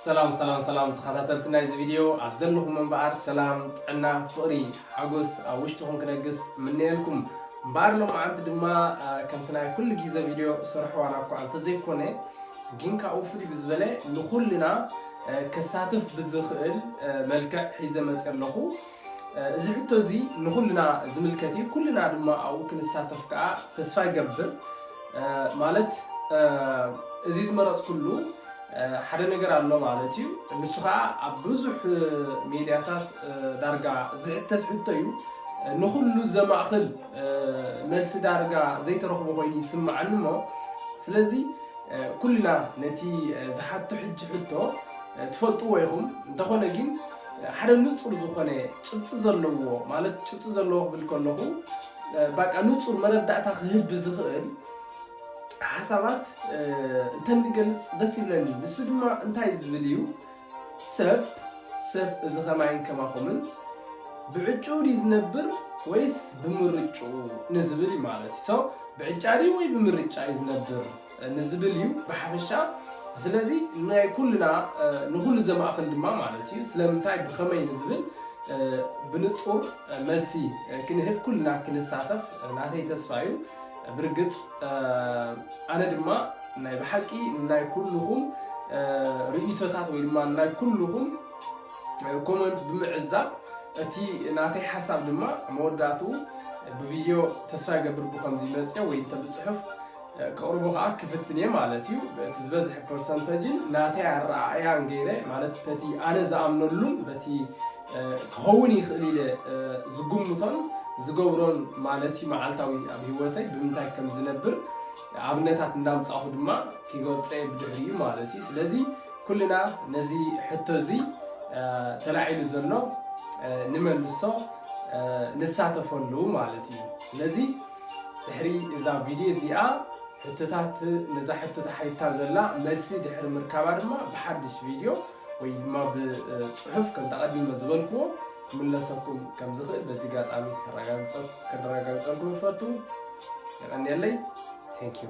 ሰላም ሰላም ሰላም ተኸታተልቲ ናይዚ ቪድዮ ኣብ ዘለኹም እምበኣር ሰላም ጥዕና ፍቕሪ ሓጎስ ኣብ ውሽጥኹም ክነግስ ምነየልኩም እምበኣር ሎማዓንቲ ድማ ከምቲ ናይ ኩሉ ግዜ ቪድዮ ስርሕዋና እኳ እንተዘይኮነ ግን ካብኡ ፍልይ ብዝበለ ንኩልና ከሳትፍ ብዝኽእል መልክዕ ሒዘ መፅእ ኣለኹ እዚ ሕቶ እዚ ንኹልና ዝምልከት እዩ ኩልና ድማ ኣብኡ ክንሳተፍ ከዓ ተስፋ ይገብር ማለት እዚ ዝመረፅኩሉ ሓደ ነገር ኣሎ ማለት እዩ ንሱ ከዓ ኣብ ብዙሕ ሚዲያታት ዳርጋ ዝሕተት ሕቶ እዩ ንኹሉ ዘማእኽል መልሲ ዳርጋ ዘይተረኽቦ ኮይኑ ይስማዓኒ እሞ ስለዚ ኩልና ነቲ ዝሓቶ ሕጂ ሕቶ ትፈልጥዎ ኢኹም እንተኾነ ግን ሓደ ንጹር ዝኾነ ጭብጢ ዘለዎ ማለት ጭብጢ ዘለዎ ክብል ከለኹ ባቃ ንጹር መረዳእታ ክህብ ዝኽእል ሓሳባት እንተንገልጽ ደስ ይብለኒ። ንሱ ድማ እንታይ ዝብል እዩ ሰብ ሰብ እዚ ከማይን ከማኹምን ብዕጭኡ ድዩ ዝነብር ወይስ ብምርጭኡ ንዝብል ማለት እዩ። ሰው ብዕጫ ድዩ ወይ ብምርጫ እዩ ዝነብር ንዝብል እዩ ብሓፈሻ ስለዚ ናይ ኩልና ንኹሉ ዘማእኽል ድማ ማለት እዩ ስለምንታይ ብኸመይ ንዝብል ብንፁር መልሲ ክንህብ ኩልና ክንሳተፍ ናተይ ተስፋ እዩ ብርግፅ ኣነ ድማ ናይ ብሓቂ ናይ ኩልኹም ርእይቶታት ወይ ድማ ናይ ኩልኹም ኮመንት ብምዕዛብ እቲ ናተይ ሓሳብ ድማ መወዳእትኡ ብቪድዮ ተስፋ ይገብር ብከምዚ መፅኦ ወይ እንተ ብፅሑፍ ከቕርቡ ከኣ ክፍትን እየ ማለት እዩ። በቲ ዝበዝሐ ፐርሰንተጅን ናተይ ኣረኣእያን ገይረ ማለት በቲ ኣነ ዝኣምነሉን በቲ ክኸውን ይኽእል ኢለ ዝግምቶን ዝገብሮን ማለት እዩ መዓልታዊ ኣብ ህይወተይ ብምንታይ ከም ዝነብር ኣብነታት እንዳምጻኹ ድማ ክገልጾ እየ ብድሕሪኡ ማለት እዩ። ስለዚ ኩልና ነዚ ሕቶ እዚ ተላዒሉ ዘሎ ንመልሶ ንሳተፈሉ ማለት እዩ። ስለዚ ድሕሪ እዛ ቪድዮ እዚኣ ሕቶታት ነዛ ሕቶ ተሓቲታ ዘላ መልሲ ድሕሪ ምርካባ ድማ ብሓድሽ ቪድዮ ወይ ድማ ብፅሑፍ ከም ተቐዲመ ዝበልክዎ ክምለሰኩም ከም ዝኽእል በዚ ጋጣሚ ከረጋግፀልኩም ይፈቱ የቐንየለይ ቴንክ ዩ